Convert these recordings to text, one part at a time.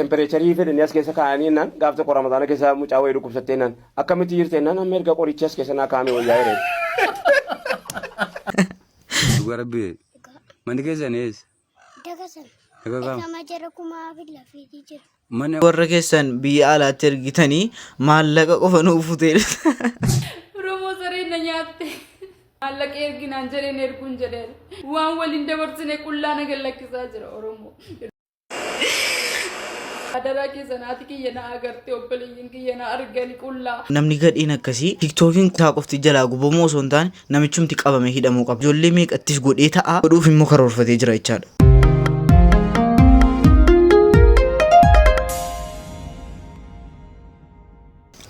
Tempereecharii fedhanii as keessa kaa'anii jennaan gaaf tokko ramadaana keessa mucaa wayii dhukkubsattee jennaan akkamitti jirte jennaan amma erga qorichi as keessa naa kaa'ame wayyaa jedhee. Dhugaa rabbii. Manni keessan eessa? Dagasan. Daga kam? Dagama jara kumaa fi lafiitii jira. Mana warra keessan biyya alaatti ergitanii maallaqa qofa nuuf futee Oromoo sareen na nyaatte. Maallaqa erginaan jedheen erguun jedheen. Waan waliin dabarsine qullaa na gallakkisaa jira Oromoo. Adaraa keessan haati kiyya na agarte obboleeyyin kiyya na argani qullaa. Namni gadheen akkasii tiktookiin isaa qofti jalaa gubamuu osoo hin taane namichumti qabame hidhamuu qaba. Ijoollee meeqattis godhee ta'a godhuuf immoo karoorfatee jira jechaadha.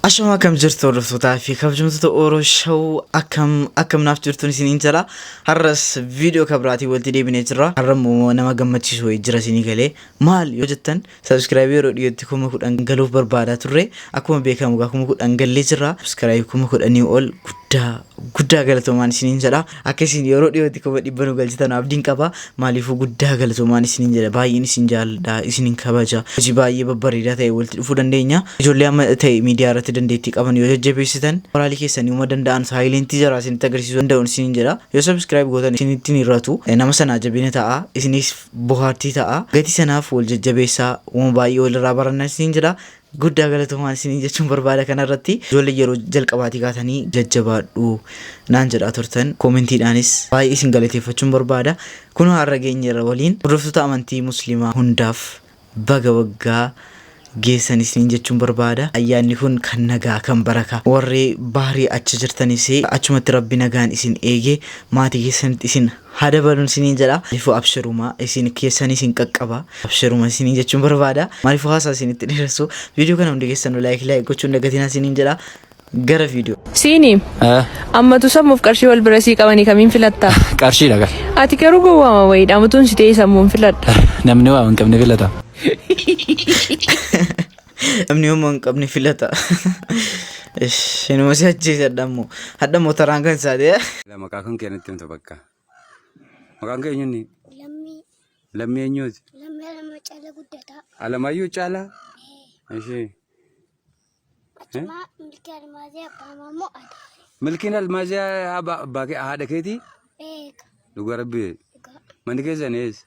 Ashama akkam jirtu hordoftootaa fi kabajamtoota Oro Show akkam akkam naaf jirtuun isiniin jala har'as viidiyoo kabiraatiin walitti deebinee jirra har'a immoo nama gammachiisu wayii jira isinii galee maal yoo jettan sabiskiraayibii yeroo dhiyootti kuma kudhan galuuf barbaadaa turre akkuma beekamu gaa kuma kudhan gallee jirra sabiskiraayibii kuma kudhanii ol guddaa guddaa galatoomaan isiniin jedha akka isin yeroo dhiyootti kuma dhibba nu galchitan abdiin qaba maaliifuu guddaa galatoomaan isiniin jedha baay'een isin jaalladha isinin kabaja hojii baay'ee babbareedaa ta'e walitti dhufuu dandeenya ijoollee amma ta'e miidiyaa irratti dandeettii qaban yoo jajjabeessitan moraalii keessanii uma danda'an saayilentii jaraa isinitti agarsiisuu danda'uun isiniin jedha yoo sabiskiraayib gootan isinitti hin hir'atu Eh, nama sanaa jabina ta'a isinis bohaartii ta'a gatii sanaaf wal jajjabeessaa uma baay'ee walirraa baranna isiniin jedha Guddaa galatoomaa isiniin jechuun barbaada kanarratti ijoollee yeroo jalqabaatii kaatanii jajjabaadhu naan jedhaa turtan koomentiidhaanis baay'ee isin galateeffachuun barbaada kunoo har'a geenyeerra waliin hordoftoota amantii musliimaa hundaaf baga waggaa geessan isiniin jechuun barbaada ayyaanni kun kan nagaa kan baraka warri bahrii achi jirtanis achumatti rabbi nagaan isin eege maatii keessanitti isin haa dabalun isiniin jedha maaliifuu abshiruma isin keessan isin qaqqaba abshiruma isiniin jechuun barbaada maaliifuu haasaa isinitti dheeressu viidiyoo kana hundi keessanuu laayik laayik gochuun dagatinaa isiniin jedha gara viidiyoo Siini Eh, ammatu sammuuf qarshii wal bira sii qabanii kamiin filatta? Qarshiidha gal. Ati garuu gowwaama wayii dhaamatuun si ta'ee sammuun filadha. Namni waa hin qabne filata. Namni homaa hin qabne filata. Ish, Inuma si ajjeesadha ammoo. Hadha moo taraan kan isaati. eh? Ila maqaa kan kee natti himta bakka. Maqaan kee eenyuuni? Lammii Lammii eenyuuti? lammii alama cala guddataa. Alamaayyoo caalaa? Ishee. Achumaa milkii almaazii abbaa maammoo adaare. Milkiin almaazii abbaa kee haadha keetii? Eega Dhugaa rabbi. dhugaa. Manni keessan eessa?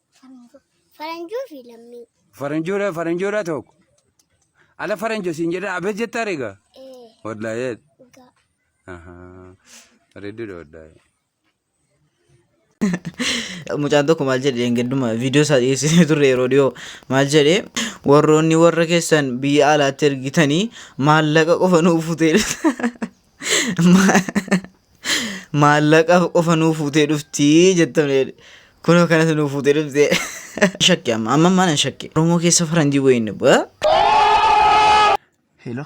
Faranjuu fi lammii. Faranjuudha faranjuudha tokko. Ala faranjo siin jedha abet jettaa reega. Ee. Wallaayee. Dhugaa. Ahaa. Bareedduudha wallaayee. Mucaan tokko maal jedhe dheengadduma viidiyoo isaa dhiyeessitee turre yeroo dhiyoo maal jedhe warroonni warra keessan biyya alaatti ergitanii maallaqa qofa nuuf futeedha. Maallaqaaf qofa nuu fuutee dhuftii jettamne kunoo kanas nuu fuutee dhuftee. Shakke amma amma mana shakke. Oromoo keessa faranjii wayii inni bu'a. Hello.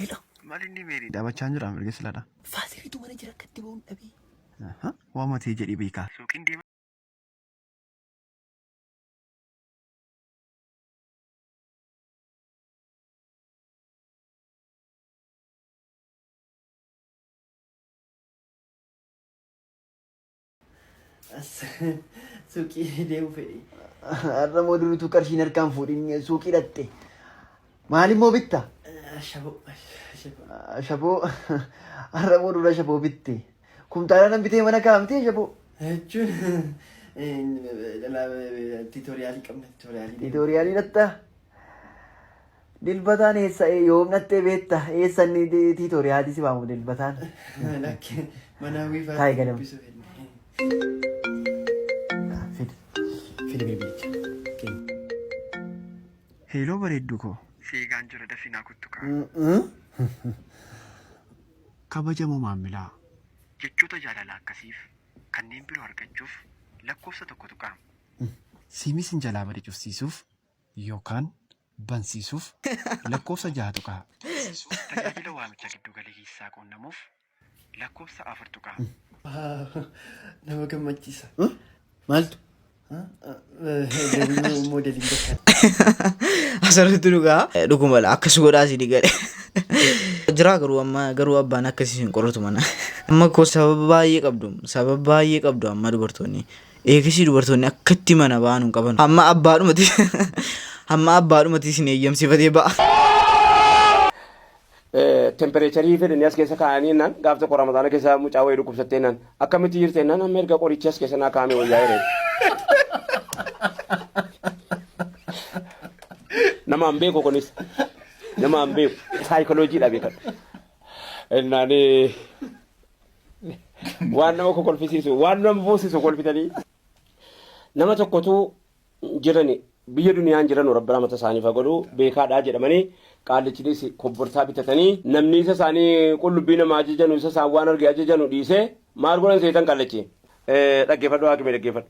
Hello. Mali inni meerii dhaabachaa hin jiru amma erga silaadha. Faasiriitu mana jira akkatti ba'uun dhabee. Waa matee jedhii beekaa. Suuqiin deema. Suuqii deemu fedhi. Har'a moo durituu qarshiin harkaan fuudhin suuqii dhatte. Maalimmoo bitta? Shaboo. Shaboo. Shaboo har'a moo dura shaboo bitte? Kumtaala nan bitee mana kaa'amtee shaboo. Jechuun tiitoriyaalii qabna tiitoriyaalii. Tiitoriyaalii dhatta? Dilbataan eessa yoom dhattee beetta eessa inni tiitooriyaatii si waamu dilbataan. Lakki manaa Taa'e wiifaatti ganama. dubbisu fedhe. Fidi. Fidi bilbilicha. Heeloo bareedduu koo. Seegaan jira dafinaa kuttukaa. Kabajamoo maammilaa. Jechoota jaalalaa akkasiif kanneen biroo argachuuf lakkoofsa tokko tuqaa. Siimii sin jalaa bade cufsiisuuf yookaan bansiisuuf lakkoofsa 6 tuqaa. Bansiisuuf tajaajila waamicha giddu galeessaa quunnamuuf lakkoofsa 4 tuqaa. Nama gammachiisa. Maaltu? Deebiin moodeliin beekan. Asirratti dhugaa dhuguma akkas godhaa si digale. Jiraa garuu amma garuu abbaan akkasii hin qoratu mana. Amma koo sababa baay'ee qabdu sababa baay'ee qabdu amma dubartoonni. Eegasii dubartoonni akkatti mana ba'an hin qaban. Hamma abbaadhumati hamma abbaadhumati isin eeyyamsifatee ba'a. tempereecharii fedhanii as keessa kaa'anii jennaan gaaf tokko ramadaana keessa mucaa wayii dhukkubsattee jennaan akkamitti jirte jennaan amma erga qorichi as keessa naa kaa'ame wayyaa jedheen. Nama hin beeku kunis nama hin beeku saayikoloojii dha beekan. Jennaan waan nama kokolfisiisu waan nama boosisu kolfitanii nama tokkotu jirani biyya duniyaan jiranu rabbi rahmata isaaniif haa godhu beekaadhaa jedhamanii qaallichinis kobborsaa bitatanii namni isa isaanii qullubbii nama ajajanu isa isaan waan arge ajajanu dhiisee maal godhan seetan qaallachi Eh, dhaggeeffadhu haakimee dhaggeeffadhu.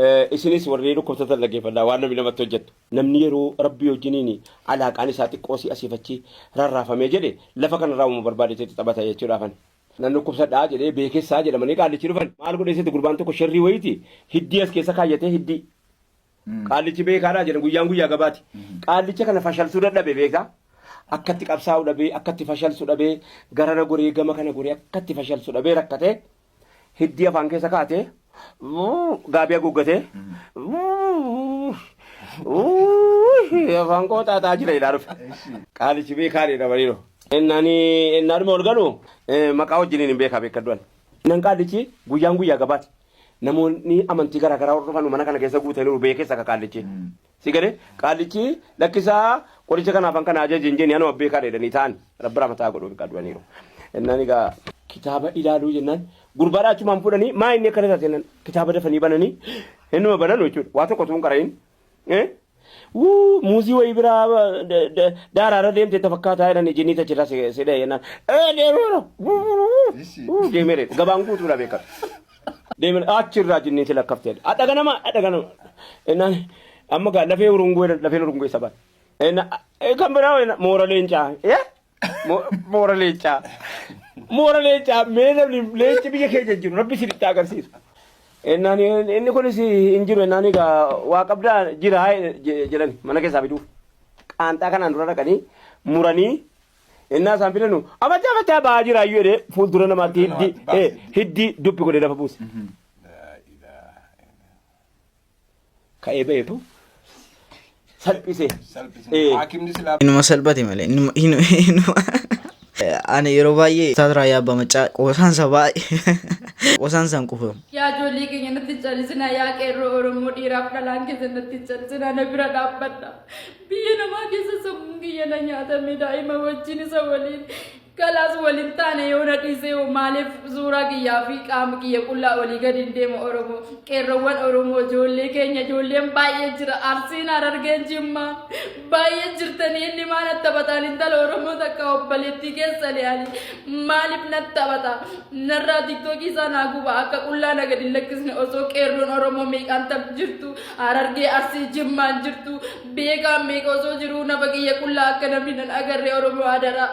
Eh, Isinis warri dhukkubsatan dhaggeeffadhaa waan namni namatti hojjetu. Namni yeroo rabbii wajjiniin alaaqaan isaa xiqqoo si asiifachi rarraafamee jedhe lafa kanarraa uumama barbaade itti taphata jechuudha afan. Nan dhukkubsadha jedhee beekessaa jedhamanii qaallichi dhufan. Maal godhee seeti gurbaan tokko sherrii wayiiti hiddii as keessa kaayyatee hiddii. Qaallichi beekaadhaa jedhan guyyaan guyyaa gabaati. Qaallicha kana fashalsuu dadhabe beektaa. Akkatti qabsaa'u dhabee akkatti fashalsu dhabee garana goree gama kana goree akkatti fashalsu dhabee rakkatee hiddii afaan keessa kaatee Gaabii haguuggatee afaan koo xaaxaa jira jedhaa dhufe. Qaalichi beekaan jedha bariiroo. Innani innaadhuma ol galu maqaa wajjiniin hin beekaa beekadduan. Innan qaallichi guyyaan guyyaa gabaati. Namoonni amantii garaa garaa hordofan mana kana keessa guutaniiru beekes akka qaallichi. Si gale qaallichi lakkisaa qoricha kanaaf an kana ajaje hin jeni anuma beekaadha jedhanii ta'an rabbi rahmata haa godhuuf egaa du'aniiru. Innaan egaa kitaaba ilaaluu jennaan gurbaadhaa achumaan fuudhanii maa inni akkana taate jennaan kitaaba dafanii bananii innuma bananu jechuudha waa tokko tuun qarayin. Wuu muuzii wayii biraa daaraarra deemte itti fakkaataa jedhanii jinnii tachirraa si dha'e jennaan. Ee deemeera. Wuu deemeera gabaan guutuudha beekatu. Deemin achi irraa jinniin si lakkafte jedhe. Adha ganama adha ganama. Ennaan amma gaa lafee urunguu jedhan lafeen urunguu isa baate. Enna kan biraa enna moora leencaa. Ye? Mo- Moora leencaa. Moora leencaa mee namni leenci biyya keenya jiru rabbi si dhitti agarsiisu. Ennaan inni kunis hin jiru ennaan egaa waa qabdaa jira jedhani mana keessaa fiduuf. Qaanxaa kanaan dura dhaqanii muranii Ennaa isaan filanu abachaa abachaa ba'aa jira iyyuu jedhee fuuldura namaatti hiddi eh, hiddi dubbi godhee lafa buuse. Ka'ee ba'eetu salphisee. Eh. Haakimni silaa Inuma salphate malee. Inuma- inu- inuma- Ani yeroo baay'ee Ustaaz Raayyaa Abbaa Maccaa qoosaansa baay'ee qoosaansaan quufamu. Yaa ijoollee keenya natti callisinaa yaa qeerroo Oromoo dhiiraaf dhalaan keessa natti callisinaa na bira dhaabbadha. Biyya namaa keessa sammuun kiyya na nyaatame daa'ima wajjin isa waliin kalaas waliin taane yoo na dhiisee hoo maaliif suuraa kiyyaa fi qaama kiyya qullaa olii gadi hin deema Oromoo qeerroowwan Oromoo ijoollee keenya ijoolleen baay'ee jira arsiin harargeen jimmaa baay'ee jirtanii inni maa na taphataan intala Oromoo takka obboleettii keessa le'ani maaliif na taphata narraa tiktookii isaa naa guba akka qullaa na gadi hin lakkisne osoo qeerroon Oromoo meeqaan tap jirtu Harargee Arsii Jimmaan jirtu beekaan meeqa osoo jiruu nafa kiyya qullaa akka namni nan agarre Oromoo hadaraa.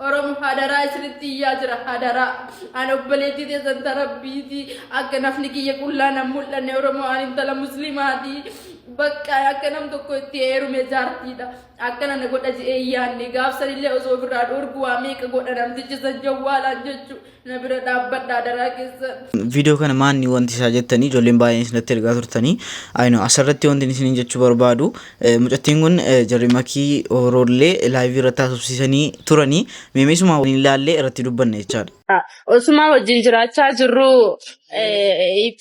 Oromoo hadaraa isinitti iyyaa jira hadaraa. Ani obboleettii teessan tarabbiiti akka nafni kiyya qullaa nan mul'anne Oromoo ani intala muslimaati. Bakka akka nam tokko itti heerume jaartiidha. Akkana na godha je'ee yaanne gaafsanillee osoo ofirraa dhorgu waa meeqa godha namtichi san jawwaalaan jechuudha. Na bira dhaabbadha adaraa keessan. viidiyoo kana maanni wanti isaa jettanii ijoolleen baay'een isinitti ergaa turtanii ayino asirratti wanti isiniin jechuu barbaadu eh, mucattiin kun eh, jarri makii horoollee laayivii irratti haasofsiisanii turanii meemeesuma waliin ilaallee irratti dubbanne jechaadha. Osuma wajjin jiraachaa jirru eh,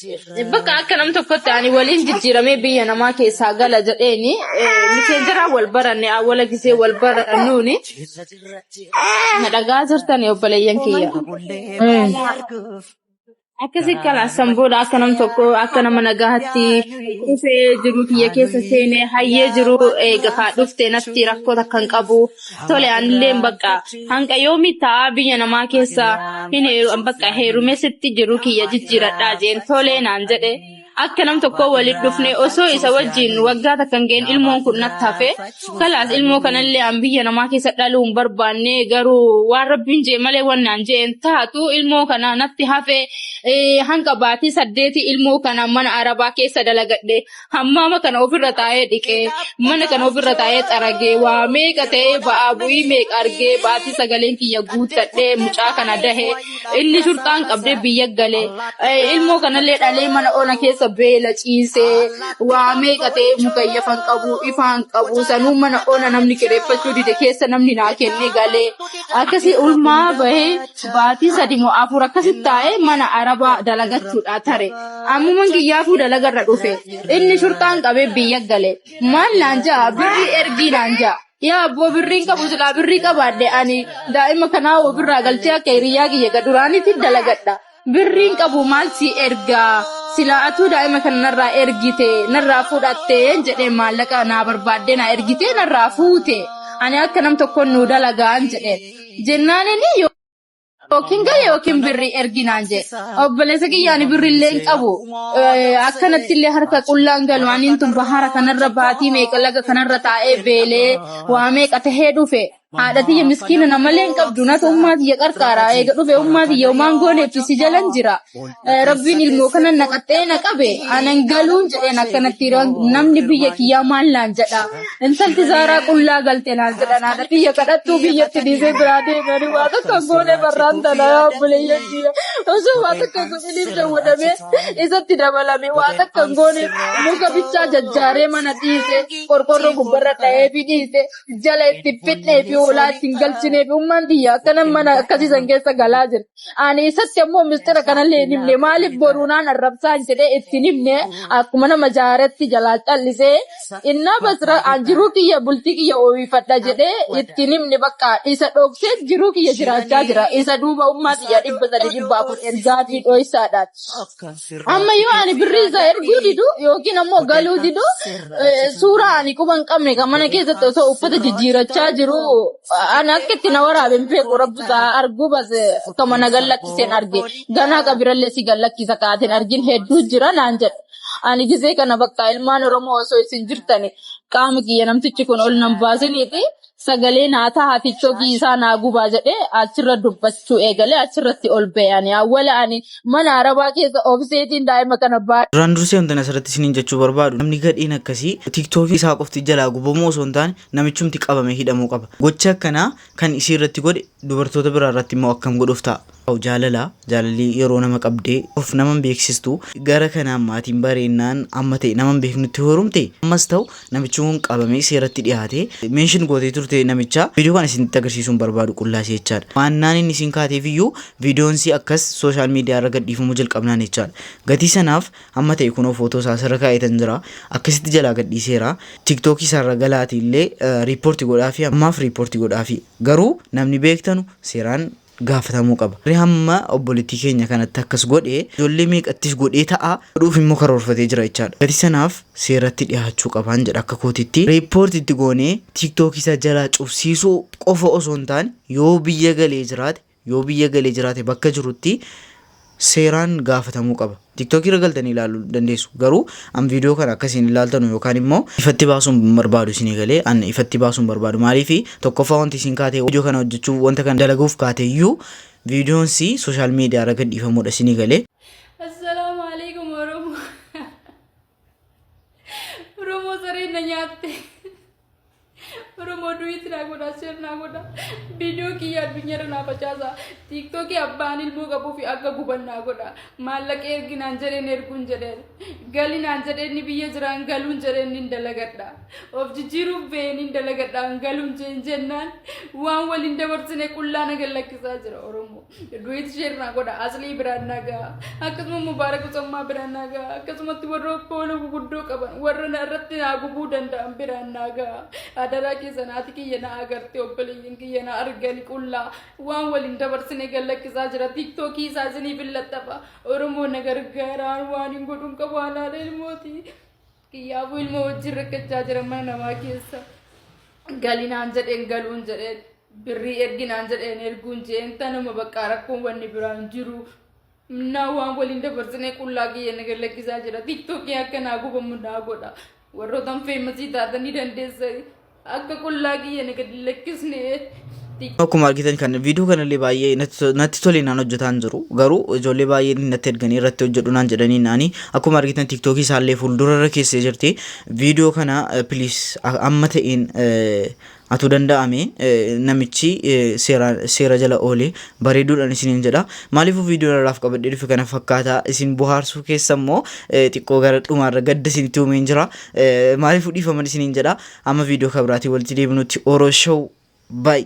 bakka akka nam tokkotti ani waliin jijjiiramee biyya namaa keessaa gala jedheeni eh, miseenjiraan wal baranne awwala gisee wal barannuuni Na dhagaa jirtanii obboleeyyan kiyya. Akkasi kalaassan booda akka nam tokko akka nama nagaatti dhufee jiru kiyya keessa seenee hayyee jiru eega kaa dhufte natti rakkoo takka hin qabu. Tole anillee bakka hanga yoomii ta'a biyya namaa keessa hin heeru bakka heerumee sitti jiru kiyya jijjiiradhaa jeen tole naan jedhe. Akka nam tokkoo waliin dhufne osoo isa wajjin waggaa takka hin ga'in ilmoon kun natti hafe. Kalaas ilmoo kanallee an biyya namaa keessa dhaluu hin barbaanne garuu waan rabbiin jee malee waan naan jee hin taatu ilmoo kana natti hafe eh, hanga baatii saddeeti ilmoo kana mana arabaa keessa dalagadhe hammaama kana ofirra taa'ee dhiqee mana kana ofirra taa'ee xaragee waa meeqa ta'ee ba'aa bu'ii meeqa argee baatii sagaleen kiyya guuttadhee mucaa kana dahee Inni shurxaan qabdee biyya galee ilmoo kanallee dhalee mana ona keessa beela ciisee waa meeqa ta'ee mukayyafan qabu ifaan qabu sanuu mana ona namni kireeffachuu dide keessa namni naa kennee galee akkasii ulmaa bahee baatii sadi moo afur akkasitti taa'ee mana arabaa dalagachuudha tare ammuman kiyyaafuu dalagarra dhufe inni shurxaan qabee biyya galee maal naan ja'a birrii ergii naan ja'a. Yaa abboo birriin qabu silaa birrii qabaadhe ani daa'ima kanaa hoo birraa galchee akka hiriyyaa kiyya ka duraanitti dalagadha. Birriin qabu maal si ergaa silaa atuu daa'ima kana narraa ergite narraa fudhattee jedhee maallaqa naa barbaaddee naa ergitee narraa fuute ani akka nam tokkoon nuu dalagaan jedheen jennaanini yoo. Yookiin gale yookiin birri erginaan jee. Obboleessa kiyyaani birri illee hin qabu. Akkanatti illee harka qullaan galu aniin tun bahara kanarra baatii meeqa laga kanarra taa'ee beelee waa meeqa tahee dhufe. Haadha tiyya miskiina namalee hin qabdu natu ummaa tiyya qarqaara. Eega dhufe ummaa tiyya umaan gooneetti si jalan jira. Eh, Rabbiin ilmoo kana naqaxee na qabe anan galuun jedheen akkanatti yeroo namni biyya kiyyaa maal naan jedha intalti zaaraa qullaa galte naan jedha naadha biyya kadhattuu biyyatti dhiisee biraa deemanii waa tokko hin goone barraan tana yaa obboleeyyan kiyya osoo waa tokko hin godhiniif dawwadamee isatti dabalame waa tokko hin goone muka bichaa jajjaaree mana dhiise qorqorroo gubbarra dha'ee fi dhiise jala itti fixnee fi hoolaa ittiin galchinee fi ummaan biyya akkanan mana akkasiisan keessa galaa jira. Ani isatti ammoo mistira kanallee hin himne. Maaliif boruunaan arrabsaan jedhee itti hin himne akkuma nama jaaretti jalaa callisee innaa basra an jiruu kiyya bultii kiyya ooyifadha jedhee itti hin himne bakka isa dhoksee jiruu kiyya jiraachaa jira. Isa duuba ummaa kiyya dhibba sadii dhibba afur ergaafii dhoysaadhaan. Amma yoo ani birrii isaa erguu didu yookiin ammoo galuu didu eh, suuraa ani quba hin qabne kan mana keessatti osoo uffata jijjiirachaa jiru ani akka itti na waraabe hin beeku rabbi isaa arguu base akka mana gallakkiseen arge ganaa qabirallee si gallakkisa kaateen argin hedduu jira naan jedhe. Ani gisee kana bakka ilmaan Oromoo osoo isin jirtani qaama kiyya namtichi kun ol nan baasiniiti Sagalee naa taha tiktoo kiisaa naa gubaa jedhee achirra dubbachuu eegalee achirratti ol ba'e ani awwala ani mana arabaa keessa obseetiin daa'ima kana baadhe. Duraan dursee wantan asirratti isiniin jechuu barbaadu namni gadheen akkasii tiktookii isaa qofti jalaa gubamuu osoo hin taane namichumti qabamee hidhamuu qaba. Gochi akkanaa kan isii irratti godhe dubartoota biraa irratti immoo akkam godhuuf ta'a. Waaw jaalala jaalalli yeroo nama qabde of nama hin beeksistu gara kanaan maatiin bareennaan amma ta'e nama hin beeknutti horumte ammas ta'u namichi kun qabamee seeratti dhiyaate mention gootee turte namicha viidiyoo kana isinitti agarsiisuun barbaadu qullaa si jechaadha maannaan inni isin kaateef iyyuu viidiyoon si akkas sooshaal miidiyaa irra gadhiifamuu jalqabnaan jechaadha gatii sanaaf amma ta'e kunoo footoo isaa asirra kaa'eetan jira akkasitti jalaa gadhiiseera tiktookii isaarra galaati illee riippoorti godhaafi ammaaf riippoorti godhaafi garuu namni beektanu seeraan gaafatamuu qaba. Warri hamma obboleettii keenya kanatti akkas godhe ijoollee meeqattis godhee ta'a, godhuuf immoo karoorfatee jira jechaadha. Gatii sanaaf seeratti dhihaachuu qabaan jedha akka kootitti. Report itti goonee tiktok isa jalaa cufsiisuu qofa osoo hin taane yoo biyya galee jiraate yoo biyya galee jiraate bakka jirutti seeraan gaafatamuu qaba. TikTok irra galtanii ilaalu dandeessu. Garuu an viidiyoo kana akka isin ilaaltanu yookaan immoo ifatti baasuun barbaadu isinii galee an ifatti baasuun barbaadu maaliif tokkoffaa wanti isin kaatee viidiyoo kana hojjechuu wanta kana dalaguuf kaate iyyuu viidiyoon si sooshaal miidiyaa irra gadhiifamuudha isinii galee Assalaamu alaikum Oromoo. Oromoo sareen na nyaatte. Oromoo duwwiitti naa godha, seer naa godha. Viidiyoo kiyya addunyaarra naa facaasa. Tiiktookii abbaan ilmoo qabuu fi akka guban naa godha. Maallaqa ergi naan jedheen erguun jedheen. Gali naan jedheen ni biyya jiraan galuun jedheen nin dalagadha. Of jijjiiruuf ba'ee nin dalagadhaan galuun jeen jennaan waan waliin dabarsine qullaa na gallakkisaa jira Oromoo. Duwiit sheer naa godha aslii biraan naa gaha akkasuma mubaarak usammaa biraan naa gaha akkasumatti warra poola guguddoo qaban warra na irratti naa gubuu danda'an biraan naa gaha adaraa keessa naati kiyya na agarte obboleeyyan kiyya na argani qullaa waan waliin dabarsine gallakkisaa jira tiiktookii isaa isiniif hin laxxafa oromoo na gargaaraan waan hin godhuun qabu haalaala ilmooti. Kiyyaafuu ilmoo wajjin rakkachaa jira mana namaa keessa. Gali naan jedheen galuun jedheen birrii ergi naan jedheen erguun jeen tanuma baqqaa rakkoon wanni biraan jiru. Naa waan waliin dabarsinee qullaa kiyya na gallakkisaa jira. Tiktookiin akka naa gubamu naa godha. Warrootan feemasii taatanii dandeessanii. Akka qullaa kiyya na gad hin lakkisne. Akkuma argitan kan viidiyoo kanallee baay'ee natti- natti tole naan hojjetaan jiru. Garuu ijoollee baay'een natti erganii irratti hojjedhu naan jedhanii naani. Akkuma argitan tiktookii isaallee fuuldura irra keessee jirti. Viidiyoo kana piliis amma ta'een eh, atuu danda'ame eh, namichi eh, seera seera jala oole bareeduudhaan isiniin jedha. Maaliifuu viidiyoo irraaf qabadhee dhufe kana fakkaata isin bohaarsuu keessa immoo eh, xiqqoo gara dhumaarra gadda isinitti uumeen jira. Maaliif dhiifaman isiniin jedha. Amma viidiyoo kabiraatiin walitti deebinutti Oro Show. Bye.